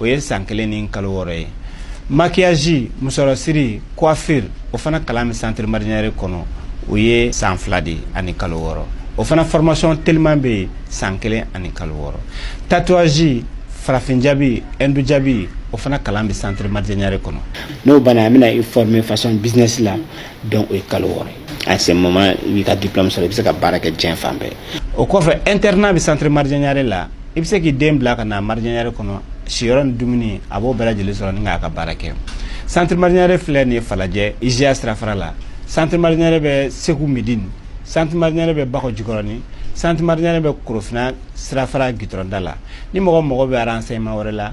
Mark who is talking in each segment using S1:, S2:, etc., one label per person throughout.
S1: o ye san kelen ni kalo wɔɔrɔ ye maquillage musɔrɔsiri coiffure o fana kalan bɛ centre marjanyare kɔnɔ o ye san fila de ani kalo wɔɔrɔ o fana formation teliman bɛ yen san kelen ani kalo wɔɔrɔ tatouage farafin jabi hindu jabi o fana kalan bɛ centre marjanyare kɔnɔ n'o banna an bɛna
S2: i former façon business la donc o ye kalo wɔɔrɔ ye à ce moment i b'i ka diplôme sɔrɔ i bɛ se ka baara kɛ diɲɛ fan bɛɛ o kɔfɛ
S1: internat bɛ centre marjanyare la i bɛ se k'i den bila ka na marjanyare kɔnɔ siyɔrɔ ni dumuni a b'o bɛɛ lajɛlen sɔrɔ ni k'a ka baara kɛ centre marjanyare filɛ nin ye falajɛ IJA sirafara la centre marjanyare bɛ segu medini centre marjanyare bɛ bakɔ jikɔrɔni centre marjanyare bɛ korofina sirafara gitɔrɔnda la ni mɔgɔ mago bɛ renseignement wɛrɛ la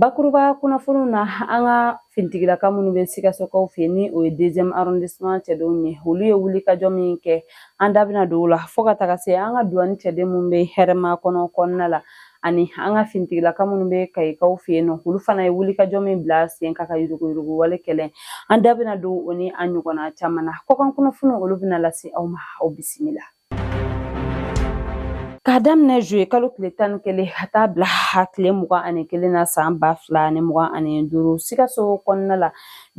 S3: Bakuruba kunnafoniw na an ka finitigilaka minnu bɛ sikasokaw fɛ ni o ye deuxième arrondissement cɛdenw ye olu ye wulikajɔ min kɛ an da bɛna don o la fo ka taga se an ka duwani cɛden minnu bɛ hɛrɛmakɔnɔ kɔnɔna la ani an ka finitigilaka minnu bɛ kayikaw fɛ yen nɔ olu fana ye wulikajɔ min bila sen kan ka yuruguyurugu wale kɛlɛ an da bɛna don o ni a ɲɔgɔnna caman na kɔkan kunnafoniw olu bɛna lase aw ma aw bisimila K'a daminɛ zuye kalo tile tan ni kelen ka taa bila tile mugan ani kelen na san ba fila ni mugan ani duuru sikaso kɔnɔna la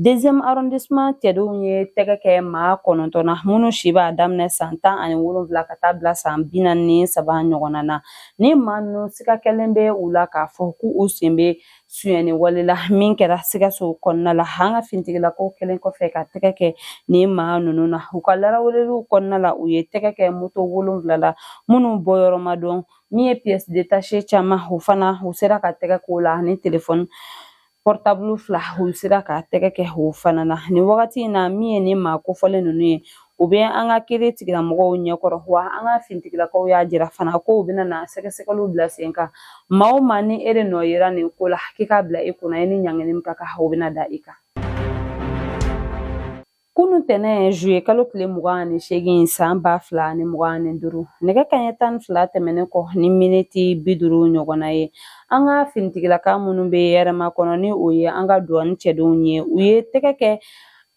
S3: deuxième arrondissement cɛdenw ye tɛgɛ kɛ maa kɔnɔntɔn na minnu si b'a daminɛ san tan ani wolonwula ka taa bila san bi naani ni saba ɲɔgɔnna na ni maa ninnu siga kɛlen bɛ u la k'a fɔ k'u sen bɛ sonyani wale la min kɛra sikaso kɔnɔna la an ka finitigilakaw kɛlen kɔfɛ ka tɛgɛ kɛ nin maa ninnu na u ka laraweleliw kɔnɔna la u ye tɛgɛ kɛ moto wolonwula la minnu bɔyɔrɔ ma dɔn min ye pièce détachée caman o fana u sera ka tɛgɛ k'o la ani telefɔni pɔrɔtabulu fila u sera ka tɛgɛ kɛ o fana na nin wagati in na min ye nin maa kofɔlen ninnu ye u bɛ an ka kiritigilamɔgɔw ɲɛkɔrɔ wa an ka finitigilakaw y'a jira fana ko u bɛna na sɛgɛsɛgɛliw bila sen kan maa o maa ni e de nɔ yera nin ko la k'i k'a bila i kunna i ni ɲangini min ka kan o bɛna da i kan kunu tɛnɛn zuye kalo tile mugan ani seegin san ba fila ani mugan ani duuru nɛgɛ kanɲɛ tan ni fila tɛmɛnen kɔ ni miniti bi duuru ɲɔgɔnna ye an ka finitigilaka minnu bɛ hɛrɛmakɔnɔ ni o ye an ka duwani cɛdenw ye u ye tɛgɛ kɛ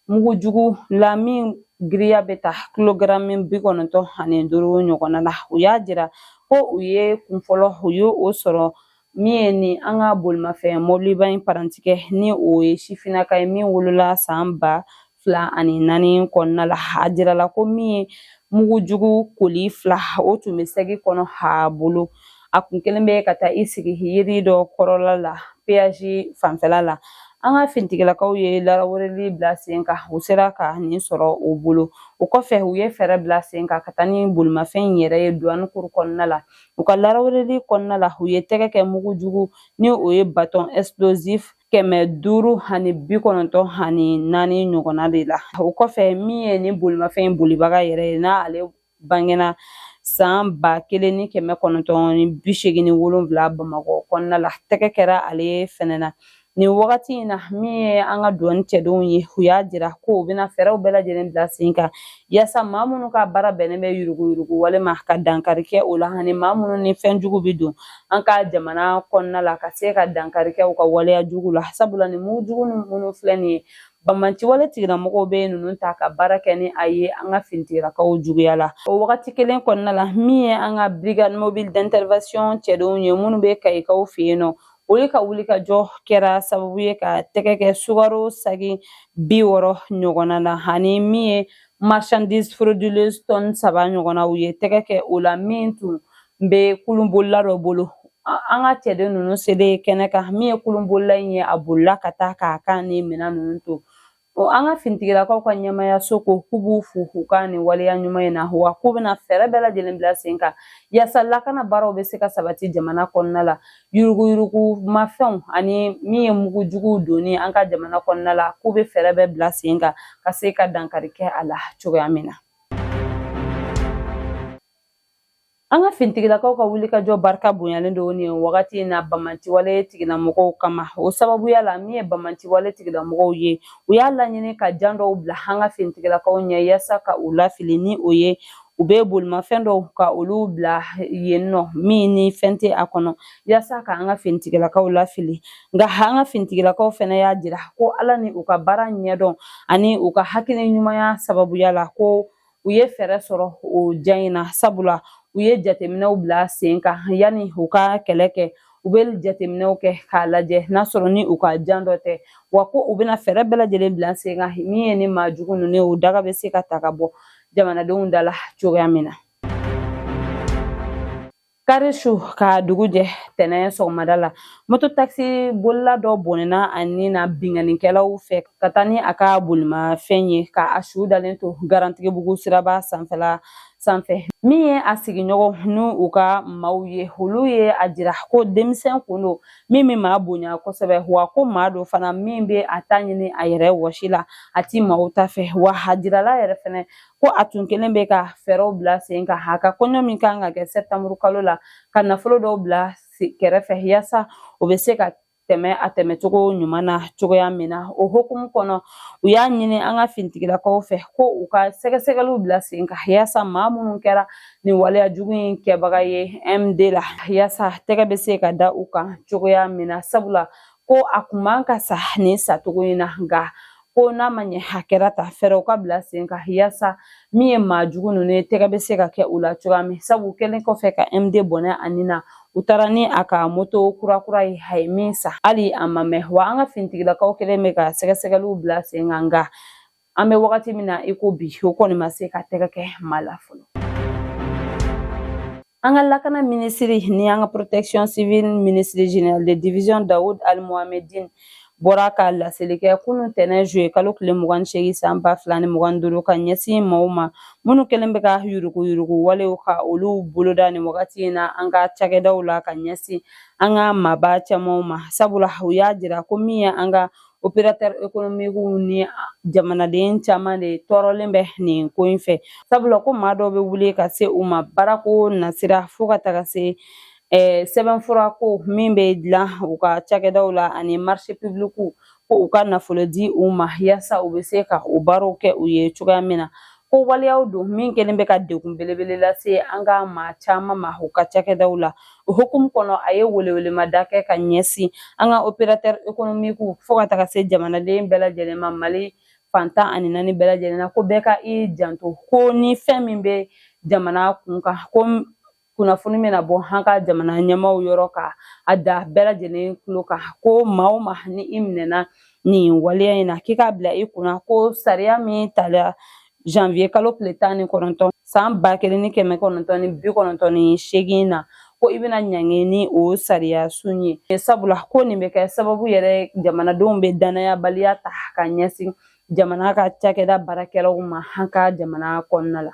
S3: Mugu jugu la min giriya bɛ taa kilogaramu bi kɔnɔntɔn ani duuru ɲɔgɔnna la u y'a jira ko u ye kunfɔlɔ u ye o sɔrɔ min ye ni an ka bolimafɛn mɔbiliba in parantikɛ ni o ye sifinnaka ye min wolola san ba fila ani naani kɔnɔna la a jirala ko min ye mugu jugu koli fila o tun bɛ sɛgi kɔnɔ a bolo a kun kelen bɛ ka taa i sigi yiri dɔ kɔrɔla la peyazi fanfɛla la an ka finitigilakaw ye laraweleli bila sen kan u sera ka nin sɔrɔ o bolo o kɔfɛ u ye fɛɛrɛ bila sen kan ka taa ni bolimafɛn in yɛrɛ ye duwani kuru kɔnɔna la u ka laraweleli kɔnɔna la u ye tɛgɛ kɛ mugu jugu ni o ye batɔn explosif kɛmɛ duuru ani bi kɔnɔntɔn ani naani ɲɔgɔnna de la o kɔfɛ min ye nin bolimafɛn bolibaga yɛrɛ ye n'ale bangena san ba kelen ni kɛmɛ kɔnɔntɔn ni bi seegin ni wolonwula bamakɔ kɔnɔna la tɛgɛ kɛra ale fɛnɛ na nin wagati in na min ye an ka duwani cɛdenw ye u y'a jira ko u bɛna fɛɛrɛw bɛɛ lajɛlen bila sen kan yaasa maa minnu ka baara bɛnnen bɛ yuruguyurugu wale ma ka dankari kɛ o la ani maa minnu ni fɛn jugu bɛ don an ka jamana kɔnɔna la ka se ka dankari kɛ u ka waleya jugu la sabula nin mugu jugu minnu filɛ nin ye Banbaanciwale tigilamɔgɔw bɛ ninnu ta ka baara kɛ ni a ye an ka finitigilakaw juguya la o wagati kelen kɔnɔna la min ye an ka brigade mobile d'intervention cɛdenw ye minnu bɛ Kayikaw fɛ yen nɔ olu ka wulikajɔ kɛra sababu ye ka tɛgɛ kɛ sukaro sagi bi wɔɔrɔ ɲɔgɔnna na ani min ye marchandise frauduleuse tɔni saba ɲɔgɔnna u ye tɛgɛ kɛ o la min tun n bɛ kulunbolila dɔ bolo an ka cɛden ninnu selen kɛnɛ kan min ye kulunbolila in ye a bolila ka taa k'a kan ni minɛn ninnu to an ka finitigilakaw ka ɲɛmaayaso ko k'u b'u fo k'u ka nin waleya ɲuman in na wa k'u bɛna fɛɛrɛ bɛɛ lajɛlen bila sen kan yaasa lakana baaraw bɛ se ka sabati jamana kɔnɔna la yuruguyurugu mafɛnw ani min ye mugu juguw donni an ka jamana kɔnɔna la k'u bɛ fɛɛrɛ bɛɛ bila sen kan ka se ka dankari kɛ a la cogoya min na An ka finitigilakaw ka wulikajɔ barika bonyalen don nin wagati in na banbaanciwale tigilamɔgɔw kama o sababuya la min ye banbaanciwale tigilamɔgɔw ye u y'a laɲini ka jan dɔw bila an ka finitigilakaw ɲɛ yaasa ka u lafili ni o ye u bɛ bolimafɛn dɔw ka olu bila yen nɔ min ni fɛn tɛ a kɔnɔ yaasa ka an ka finitigilakaw lafili nka an ka finitigilakaw fana y'a jira ko ala ni u ka baara ɲɛdɔn ani u ka hakili ɲumanya sababuya la ko u ye fɛɛrɛ sɔrɔ o jan in na sabula u ye jateminɛw bila sen kan yanni u ka kɛlɛ kɛ u bɛ jateminɛw kɛ k'a lajɛ n'a sɔrɔ ni u ka jan dɔ tɛ wa ko u bɛna fɛɛrɛ bɛɛ lajɛlen bila sen kan min ye ni maa jugu ninnu ye o daga bɛ se ka ta ka bɔ jamanadenw da la cogoya min na kari su ka dugu jɛ tɛnɛn sɔgɔmada la moto takisi bolila dɔ bɔnɛna a ni na binkannikɛlaw fɛ ka taa ni a ka bolimafɛn ye ka a su dalen to Garantigibugu siraba sanfɛla sanfɛ min ye a sigiɲɔgɔn ni u ka maaw ye olu ye a jira ko denmisɛn kun don min bɛ maa bonya kosɛbɛ wa ko maa don fana min bɛ a ta ɲini a yɛrɛ wɔsi la a ti maaw ta fɛ wa a jirala yɛrɛ fɛnɛ ko a tun kɛlen bɛ ka fɛɛrɛw bila sen kan a ka kɔɲɔ min kan ka kɛ sɛtanburu kalo la ka nafolo dɔw bila kɛrɛfɛ yaasa o bɛ se ka tɛmɛ a tɛmɛcogo ɲuman na cogoya min na o hukumu kɔnɔ u y'a ɲini an ka finitigilakaw fɛ ko u ka sɛgɛsɛgɛliw bila sen kan yaasa maa minnu kɛra nin waleya jugu in kɛbaga ye md la yaasa tɛgɛ bɛ se ka da u kan cogoya min na sabula ko a kun man ka sa nin sacogo in na nka ko n'a ma ɲɛ hakɛra ta fɛɛrɛw ka bila sen kan yaasa min ye maa jugu ninnu ye tɛgɛ bɛ se ka kɛ u la cogoya min sabu kɛlen kɔfɛ ka md bɔnɛ a nin na u taara ni a ka moto kurakura ye a ye min san hali a ma mɛn wa an ka finitigilakaw kɛlen bɛ ka sɛgɛsɛgɛliw bila sen kan nka an bɛ wagati min na i ko bi o kɔni ma se ka tɛgɛ kɛ maa la fɔlɔ An ka lakana minisiri ni an ka protection civile minisiri général de division Daoud Aly Mohammedine bɔra ka laseli kɛ kunun tɛnɛn juye kalo tile mugan ni seegin san ba fila ni mugan duuru ka ɲɛsin maaw ma minnu kɛlen bɛ ka yuruguyurugu walew ka olu boloda nin wagati in na an ka cakɛdaw la ka ɲɛsin an ka maaba camanw ma sabula u y'a jira ko min ye an ka operatɛri ekonomikiw ni jamanaden caman de tɔɔrɔlen bɛ nin ko in fɛ sabula ko maa dɔw bɛ wuli ka se u ma baarako nasira fo ka taga se sɛbɛnfura ko min bɛ dilan u ka cakɛdaw la ani marise pibilikiw ko u ka nafolo di u ma yaasa u bɛ se ka u baaraw kɛ u ye cogoya min na Ko waleyaw don min kɛlen bɛ ka degun belebele lase an ka maa caman ma u ka cakɛdaw la o hukumu kɔnɔ a ye welewelemada kɛ ka ɲɛsin an ka opérateur économique fo ka taga se jamanaden bɛɛ lajɛlen ma Mali fan tan ani naani bɛɛ lajɛlen na ko bɛɛ ka i janto ko ni fɛn min bɛ jamana kun kan ko kunnafoni bɛna bɔ an ka jamana ɲɛmaaw yɔrɔ ka a da bɛɛ lajɛlen tulo kan ko maa o maa ni i minɛna nin waleya in na k'i k'a bila i kunna ko sariya min tala janvier kalo tile tan ni kɔnɔntɔn san ba kelen ni kɛmɛ kɔnɔntɔn ni bi kɔnɔntɔn ni seegin na ko i bɛna ɲangi ni o sariya sun ye sabula ko nin bɛ kɛ sababu yɛrɛ jamanadenw bɛ danayabaliya ta ka ɲɛsin jamana ka cakɛda baarakɛlaw ma an ka jamana kɔnɔna la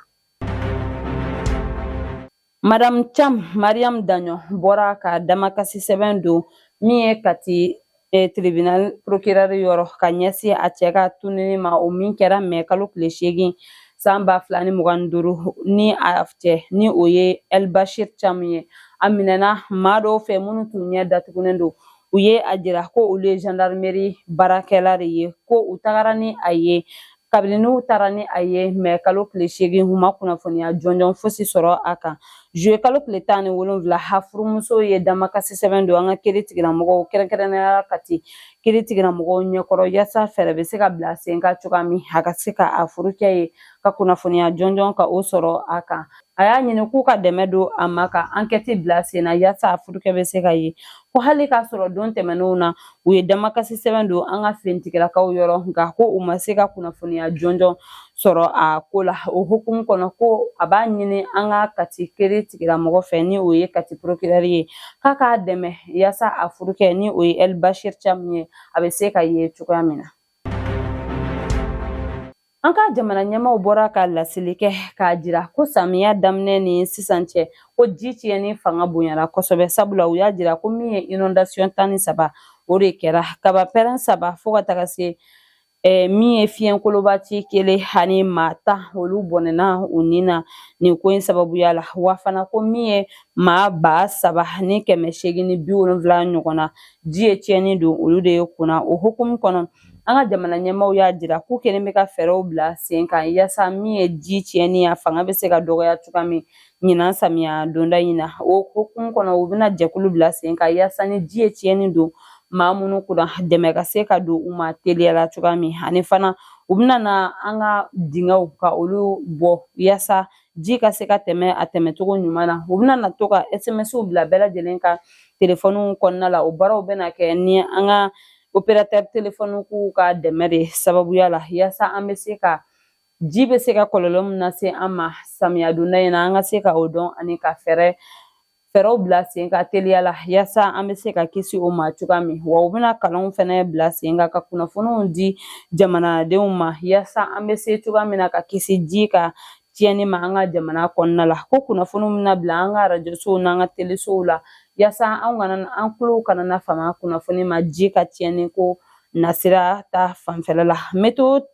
S3: Madame Thiam Mariam Dagnon bɔra ka damakasi sɛbɛn don min ye Kati eh, tribunal procureur yɔrɔ ka ɲɛsin a cɛ ka tununi ma o min kɛra mɛ kalo tile seegin san ba fila ni mugan ni duuru ni a cɛ ni o ye El Bachir Thiam ye a minɛna maa dɔw fɛ minnu tun ɲɛ datugunen don u ye a jira ko olu ye gendarmerie baarakɛla de ye ko u tagara ni a ye kabini n'u taara ni a ye mɛ kalo tile seegin u ma kunnafoniya jɔnjɔn fosi sɔrɔ a kan zuye kalo tile tan ni wolonwula a furumuso ye damakasi sɛbɛn don an ka kiiri tigilamɔgɔw kɛrɛnkɛrɛnnenya kati kiiri tigilamɔgɔw ɲɛkɔrɔ yaasa fɛɛrɛ bɛ se ka bila sen kan cogoya min a ka se ka a furukɛ ye ka kunnafoniya jɔnjɔn ka o sɔrɔ a kan a y'a ɲini k'u ka dɛmɛ don a ma ka ankɛti bila sen na yaasa a furukɛ bɛ se ka ye ko hali k'a sɔrɔ don tɛmɛnenw na u ye damakasi sɛbɛn don an ka finitigilakaw yɔrɔ nka ko u ma se ka kunnafoniya jɔnjɔn sɔrɔ a ko la o hukumu kɔnɔ ko a b'a ɲini an ka kati kiiri tigilamɔgɔ fɛ ni o ye kati porokirɛri ye k'a k'a dɛmɛ yaasa a furukɛ ni o ye ɛli bashir camu ye a bɛ se ka ye cogoya min na An ka jamana ɲɛmaaw bɔra ka laseli kɛ k'a jira ko samiya daminɛ ni sisan cɛ ko ji tiɲɛni fanga bonyara kosɛbɛ sabula u y'a jira ko min ye inondation tan ni saba o de kɛra kaba pɛrɛn saba fo ka taga se eh, min ye fiɲɛkoloba ci kelen ani maa tan olu bɔnɛna u ni na nin ko in sababuya la wa fana ko min ye maa ba saba ni kɛmɛ seegin ni bi wolonwula ɲɔgɔn na ji ye tiɲɛni don olu de ye kunna o hukumu kɔnɔ an ka jamana ɲɛmaaw y'a jira k'u kɛlen bɛ ka fɛɛrɛw bila sen kan yaasa min ye ji tiɲɛni a fanga bɛ se ka dɔgɔya cogoya min ɲinan samiya donda in na o hukumu kɔnɔ u bɛna jɛkulu bila sen kan yaasa ni ji ye tiɲɛni don maa minnu kunna dɛmɛ ka se ka don u ma teliyala cogoya min ani fana u bɛna na an ka dingɛw ka olu bɔ yaasa ji ka se ka tɛmɛ a tɛmɛcogo ɲuman na u bɛna na to ka smsw bila bɛɛ lajɛlen ka telefɔniw kɔnɔna la o baaraw bɛna kɛ ni an ka operatɛri telefɔnikiw ka dɛmɛ de sababuya la yaasa an bɛ se ka ji bɛ se ka kɔlɔlɔ min lase an ma samiya donda in na an ka se ka o dɔn ani ka fɛɛrɛ fɛɛrɛw bila sen kan teliya la yaasa an bɛ se ka kisi o ma cogoya min wa u bɛna kalanw fana bila sen kan ka kunnafoniw di jamanadenw ma yaasa an bɛ se cogoya min na ka kisi ji ka tiɲɛni ma an ka jamana kɔnɔna la ko kunnafoniw bɛna bila an ka arajosow n'an ka telesow la yaasa an kana an tulow kana na fama kunnafoni ma ji ka tiɲɛni ko nasira ta fanfɛla la meteyo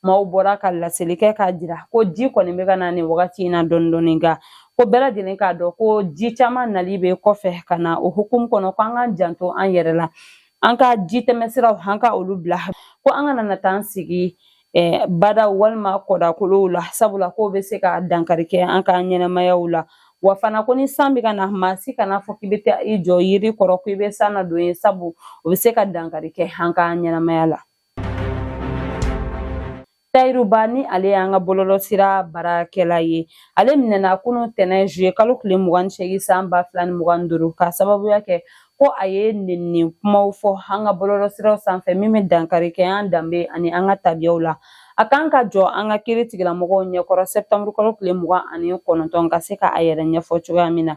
S3: maaw bɔra ka laseli kɛ k'a jira ko ji kɔni bɛ ka na nin wagati in na dɔɔni dɔɔni nka ko bɛɛ lajɛlen k'a dɔn ko ji caman nali bɛ kɔfɛ ka na o hukumu kɔnɔ ko an k'an janto an yɛrɛ la an ka ji tɛmɛsiraw an ka olu bila ko an kana na taa an sigi badaw walima kɔdakolow la sabula k'o bɛ se ka dankari kɛ an ka ɲɛnɛmayaw la wa fana ko ni san bɛ ka na maa si kana fɔ k'i bɛ taa i jɔ yiri kɔrɔ ko i bɛ san na don ye sabu o bɛ se ka dankari kɛ an ka ɲɛnɛmaya la tayiru ba ni ale y'an ka bɔlɔlɔsira baarakɛla ye ale minɛna kunun tɛnɛn zuye kalo tile mugan ni seegin san ba fila ni mugan ni duuru k'a sababuya kɛ ko a ye nenni kumaw fɔ an ka bɔlɔlɔsiraw sanfɛ min bɛ dankari kɛ an danbe ani an ka tabiyaw la a kan ka jɔ an ka kiri tigilamɔgɔw ɲɛkɔrɔ sɛptanburu kalo tile mugan ani kɔnɔntɔn ka se ka a yɛrɛ ɲɛfɔ cogoya min na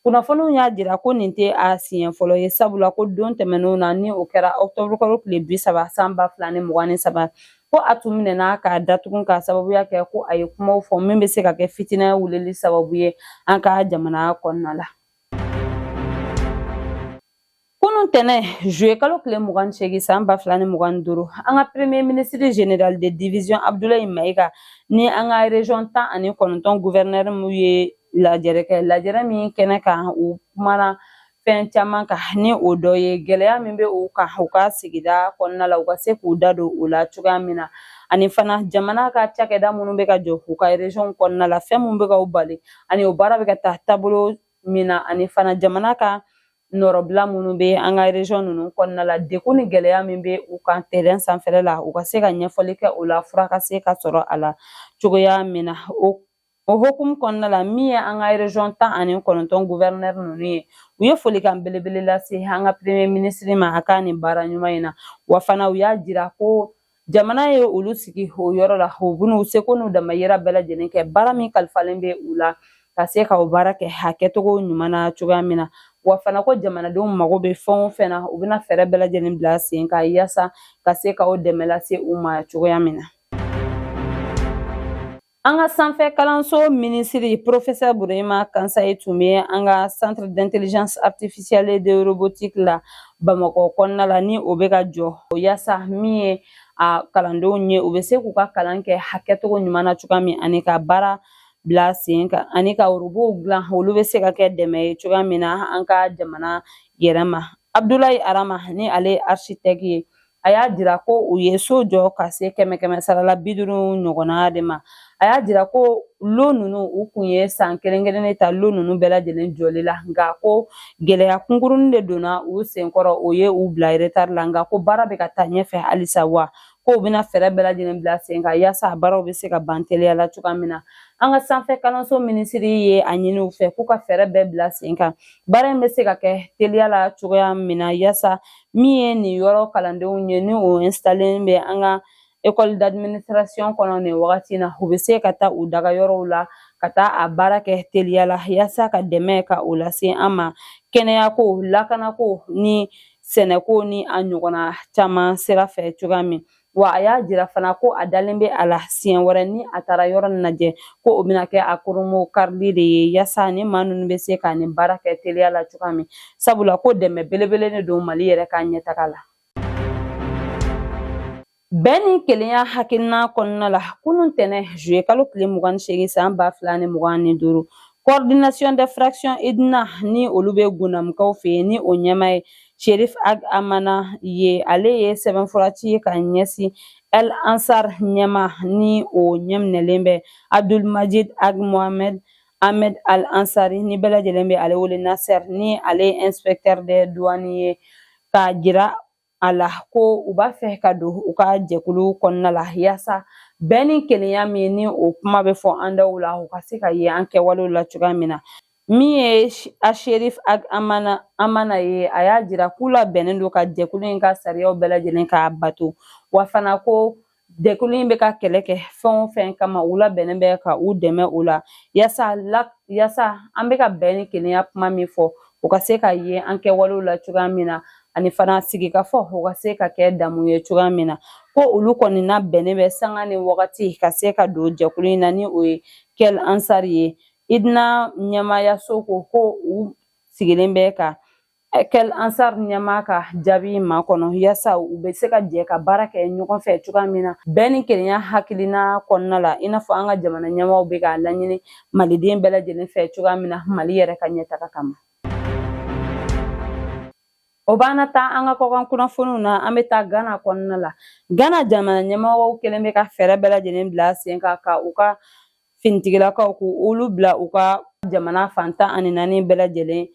S3: kunnafoniw y'a jira ko nin tɛ a siɲɛ fɔlɔ ye sabula ko don tɛmɛnenw na ni o kɛra ɔktɔburu kalo tile bi saba san ba fila ni mugan ni saba ko a tun minɛna k'a datugu k'a sababuya kɛ ko a ye kumaw fɔ min bɛ se ka kɛ fitinɛ wulili sababu ye an ka jamana kɔnɔna la Kunun tɛnɛn zuye kalo tile mugan ni seegin san ba fila ni mugan ni duuru an ka premier ministre general de division abdulayi mayiga ni an ka region tan ani kɔnɔntɔn gouverneur mu ye lajɛrɛ kɛ lajɛrɛ min kɛnɛ kan u kumana fɛn caman kan ni o dɔ ye gɛlɛya min bɛ u kan u ka sigida kɔnɔna la u ka se k'u da don o la cogoya min na ani fana jamana ka cakɛda minnu bɛ ka jɔ u ka region kɔnɔna la fɛn minnu bɛ ka u bali ani o baara bɛ ka taa taabolo min na ani fana jamana ka nɔrɔbila minnu bɛ an ka region ninnu kɔnɔna la degun ni gɛlɛya min bɛ u kan terrain sanfɛla la u ka se ka ɲɛfɔli kɛ o la fura ka se ka sɔrɔ a la cogoya min na o hukumu kɔnɔna la min ye an ka region tan ani kɔnɔntɔn gouverneur ninnu ye u ye folikan belebele lase an ka premier ministre ma a ka nin baara ɲuman in na wa fana u y'a jira ko jamana ye olu sigi o yɔrɔ la u bɛn'u seko n'u damayira bɛɛ lajɛlen kɛ baara min kalifalen bɛ u la ka se ka o baara kɛ hakɛcogo ɲuman na cogoya min na wa fana ko jamanadenw mago bɛ fɛn o fɛn na u bɛna fɛɛrɛ bɛɛ lajɛlen bila sen kan yaasa ka se ka o dɛmɛ lase u ma cogoya min na An ka sanfɛ kalanso minisiri professeur burema kansaye tun bɛ an ka centre d'intelligence artificielle de robotique la bamakɔ kɔnɔna la ni o bɛ ka jɔ yaasa min ye a kalandenw ye u bɛ se k'u ka kalan kɛ hakɛcogo ɲuman na cogoya min ani ka baara bila sen kan ani ka robow dilan olu bɛ se ka kɛ dɛmɛ ye cogoya min na an ka jamana yɛrɛ ma abdulayi arama ni ale ye architecte ye a y'a jira ko u ye so jɔ ka se kɛmɛ kɛmɛ sarala bi duuru ɲɔgɔnna de ma a y'a jira ko lo ninnu u kun ye san kelen kelen de ta lo ninnu bɛɛ lajɛlen jɔli la nka ko gɛlɛya kunkurunin de donna u senkɔrɔ o ye u bila retard la nka ko baara bɛ ka taa ɲɛfɛ halisa wa ko u bɛna fɛɛrɛ bɛɛ lajɛlen bila sen kan yaasa a baaraw bɛ se ka ban teliya la cogoya min na an ka sanfɛ kalanso minisiri ye a ɲini u fɛ k'u ka fɛɛrɛ bɛɛ bila sen kan baara in bɛ se ka kɛ teliya la cogoya min na yaasa min ye nin yɔrɔ kalandenw ye ni u installelen bɛ an ka école d'administration kɔnɔ nin wagati na u bɛ se ka taa u daga yɔrɔw la ka taa a baara kɛ teliya la yaasa ka dɛmɛ ka o lase an ma kɛnɛyako lakanako ni sɛnɛko ni a ɲɔgɔnna caman sira fɛ cogoya min wa a y'a jira fana ko a dalen bɛ a la siɲɛ wɛrɛ ni a taara yɔrɔ nin lajɛ ko o bɛna kɛ a kurunbonkarili de ye yasa ni maa ninnu bɛ se ka nin baara kɛ teliya la cogoya min sabula ko dɛmɛ belebele de don mali yɛrɛ ka ɲɛtaga la bɛn ni kelenya hakilina kɔnɔna la kunun tɛnɛ juye kalo tile mugan ni seegin san ba fila ni mugan ni duuru coordination des fractions Idnane ni olu bɛ gundamukaw fɛ yen ni o ɲɛmaa ye Sherif Ag Amana ye ale ye sɛbɛnfura ci ka ɲɛsin Kel Ansar ɲɛmaa ni o ɲɛminɛlen bɛ Abdul Majid Ag Mohamed Ahmed Al Ansari ni bɛɛ lajɛlen bɛ ale wele Nasser ni ale ye inspecteur de douane ye k'a jira a la ko u b'a fɛ ka don u ka jɛkulu kɔnɔna la yaasa bɛn ni kelenya min ni o kuma bɛ fɔ an daw la u ka se ka ye an kɛwalew la cogoya min na Min ye Sherif Ag Amana ye a y'a jira k'u labɛnnen don ka jɛkulu in ka sariyaw bɛɛ lajɛlen k'a bato wa fana ko jɛkulu in bɛ ka kɛlɛ kɛ fɛn o fɛn kama u labɛnnen bɛ ka u dɛmɛ o la yasa an bɛ ka bɛn ni kelenya kuma min fɔ u ka se ka ye an kɛwalew la cogoya min na ani fana sigikafɔ o ka se ka kɛ damu ye cogoya min na ko olu kɔni labɛnnen bɛ sanga ni wagati ka se ka don jɛkulu in na ni o ye Kel Ansar ye Idnane ɲɛmaayaso ko ko u sigilen bɛ ka Kel Ansar ɲɛmaa ka jaabi makɔnɔ yasa u bɛ se ka jɛ ka baara kɛ ɲɔgɔn fɛ cogoya min na bɛn ni kelenya hakilina kɔnɔna la i n'a fɔ an ka jamana ɲɛmaaw bɛ k'a laɲini maliden bɛɛ lajɛlen fɛ cogoya min na mali yɛrɛ ka ɲɛtaga kama o b'an taa an ka kɔkan kunnafoniw na an bɛ taa gana kɔnɔna la gana jamana ɲɛmɔgɔw kɛlen bɛ ka fɛɛrɛ bɛɛ lajɛlen bila sen kan ka u ka finitigilakaw ko olu bila u ka jamana fan tan ani naani bɛɛ lajɛlen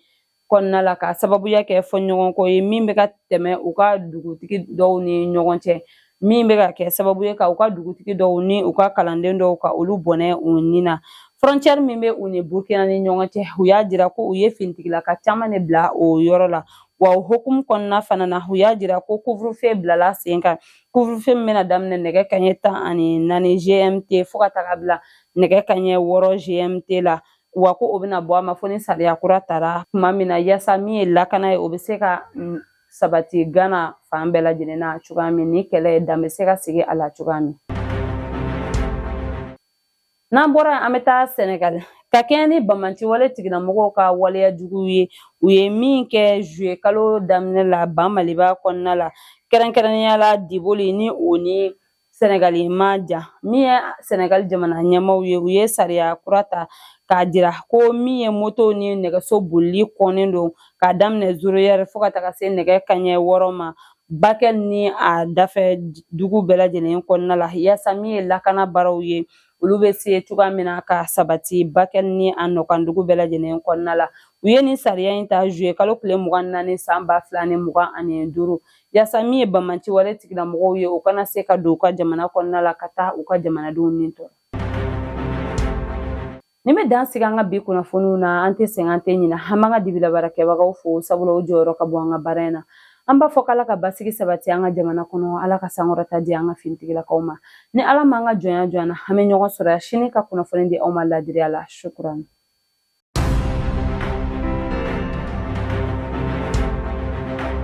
S3: kɔnɔna la ka sababuya kɛ fɔɲɔgɔnkɔ ye min bɛ ka tɛmɛ u ka dugutigi dɔw ni ɲɔgɔn cɛ min bɛ ka kɛ sababu ye ka u ka dugutigi dɔw ni u ka kalanden dɔw ka olu bɔnɛ u ni na frontière min bɛ u ni burkina ni ɲɔgɔn cɛ u y'a jira ko u ye finitigilaka caman de bila o yɔrɔ la wa o hukumu kɔnɔna fana na u y'a jira ko couvre-feu bilala sen kan couvre-feu min bɛna daminɛ nɛgɛ kanɲɛ tan ani naani gmt fo ka taga bila nɛgɛ kanɲɛ wɔɔrɔ gmt la wa ko o bɛna bɔ a ma fo ni sariya kura tara tuma min na yaasa min ye lakana ye o bɛ se ka mm, sabati gana fan bɛɛ lajɛlen na cogoya min ni kɛlɛ in dan bɛ se ka sigi a la cogoya min n'an bɔra an bɛ taa sɛnɛgali ka kɛɲɛ ni banbaanci wale tigilamɔgɔw ka waleya jugu ye u ye min kɛ zuye kalo daminɛ la ba maliba kɔnɔna la kɛrɛnkɛrɛnnenya la diboli ni o ni sɛnɛgali man jan min ye sɛnɛgali jamana ɲɛmaaw ye u ye sariya kura ta k'a jira ko min ye moto ni nɛgɛso bolili kɔnnen don k'a daminɛ zéro heure fo ka taga se nɛgɛ kanɲɛ wɔɔrɔ ma Bakɛl ni a dafɛ dugu bɛɛ lajɛlen kɔnɔna la yaasa min ye lakana baaraw ye olu bɛ se cogoya min na ka sabati Bakɛl ni a nɔkan dugu bɛɛ lajɛlen kɔnɔna la u ye nin sariya in ta zuye kalo tile mugan naani san ba fila ni mugan ani duuru yaasa min ye banbaanci wale tigilamɔgɔw ye u kana se ka don u ka jamana kɔnɔna la ka taa u ka jamanadenw ni tɔɔrɔ Nin bɛ dan sigi an ka bi kunnafoniw na an tɛ sɛgɛn an tɛ ɲinɛ an b'an ka dibila baarakɛbagaw fo sabula o jɔyɔrɔ ka bon an ka baara in na an b'a fɔ k' ala ka basigi sabati an ka jamana kɔnɔ ala ka sankɔrɔta di an ka finitigilakaw ma ni ala m'an ka jɔnya jɔ an na an bɛ ɲɔgɔn sɔrɔ yan sini ka kunnafoni di aw ma laadiriya la shukran